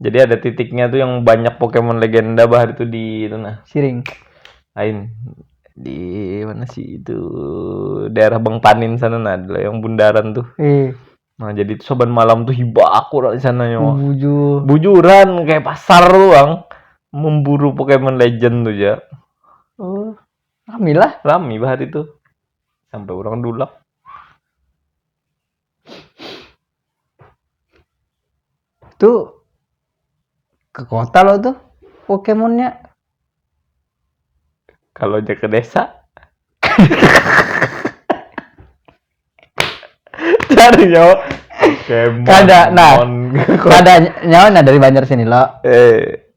Jadi ada titiknya tuh yang banyak Pokemon legenda bah itu di itu nah. Siring. Lain di mana sih itu daerah Bang Panin sana nah ada yang bundaran tuh. Eh, Nah jadi itu saban malam tuh hibak aku lah di sana yo. bujur. Bujuran kayak pasar tuh bang memburu Pokemon Legend tuh ya. Oh, rame lah. Rame bah hari itu sampai orang dulak. itu ke kota lo tuh Pokemonnya kalau aja ke desa cari nyawa Pokemon kada nah kada nyawa nah dari Banjar sini lo eh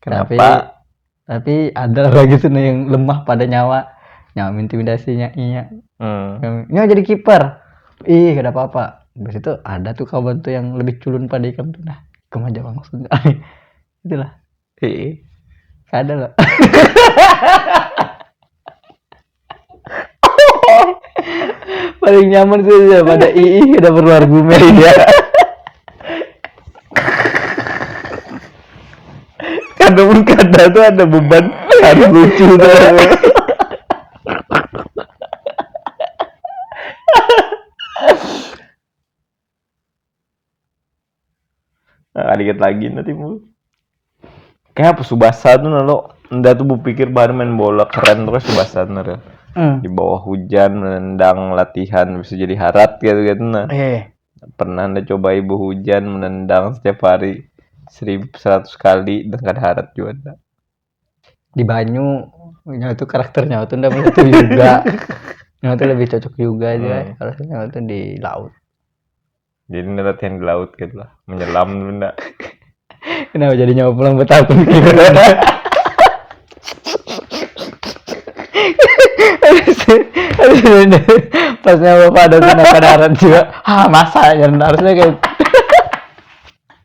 Kenapa? Tapi, tapi ada lagi tuh yang lemah pada nyawa. Nyawa intimidasinya iya. Hmm. Nyawa jadi kiper. Ih, gak ada apa-apa. Di situ ada tuh kawan tuh yang lebih culun pada ikam tuh. Nah, ikam aja langsung. Itulah. Iya. Ada loh. paling nyaman gue ya pada ii udah perlu argumen ya karena pun kata tuh ada beban harus lucu tuh Nah, dikit lagi nanti bu. Kayak apa Subasa tuh nalo, nda tuh berpikir bahan main bola keren tuh kayak Subasa tuh nalo. Hmm. Di bawah hujan menendang latihan bisa jadi harat gitu gitu nah. Eh. Pernah anda coba ibu hujan menendang setiap hari seribu seratus kali dengan harat juga. di banyu nyawa tuh karakter nyawa tuh ndak itu juga nyawa tuh lebih cocok juga aja hmm. kalau nyawa tuh di laut jadi ndak latihan di laut gitu lah menyelam dulu ndak kenapa jadi nyawa pulang betapa gitu pas nyawa pada sana kadaran juga ah masa ya harusnya kayak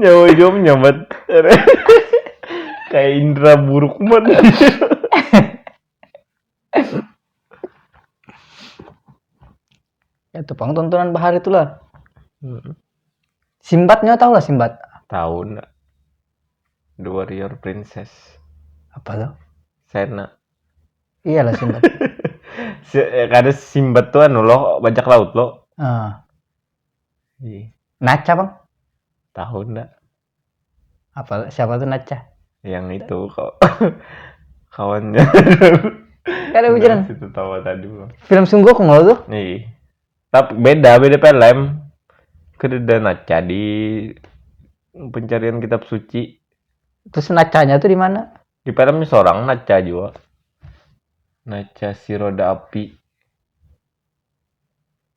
nyawa jom nyamat kayak indra buruk banget ya tuh pang tontonan bahari itu lah hmm. Simbatnya tahu lah Simbat tahu ndak The Warrior Princess apa tuh Sena iyalah Simbat eh, kada Simbat tuh anu loh bajak laut loh ah. Iya. Naca bang tahu ndak apa siapa tuh Nacha yang itu kok kawannya Gak ada hujan. situ tawa tadi bang Film sungguh aku ngeluh tuh. nih tapi beda beda film kededa naca di pencarian kitab suci Terus nacanya tuh di mana? di filmnya seorang naca juga naca si roda api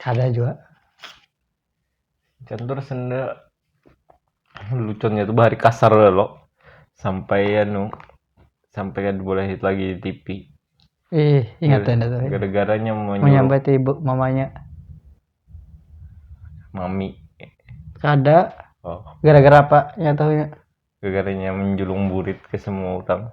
kada jua cantur senda lucunya tuh bahari kasar lo sampai anu sampai kan boleh hit lagi di TV ih ingat ya tuh gara-garanya mau menyambat ibu mamanya mami kada oh gara-gara apa ya tahunya gara-garanya menjulung burit ke semua orang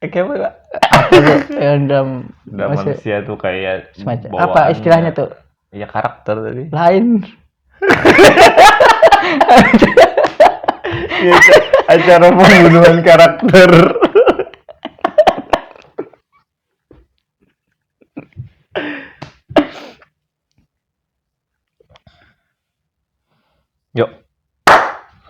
Eh, kayak apa Pak? Ya, dam, Nah, masih- manusia tuh kayak semacam apa bawaannya. istilahnya tuh Ya karakter tadi. lain Iya, acara pembunuhan karakter. Yuk.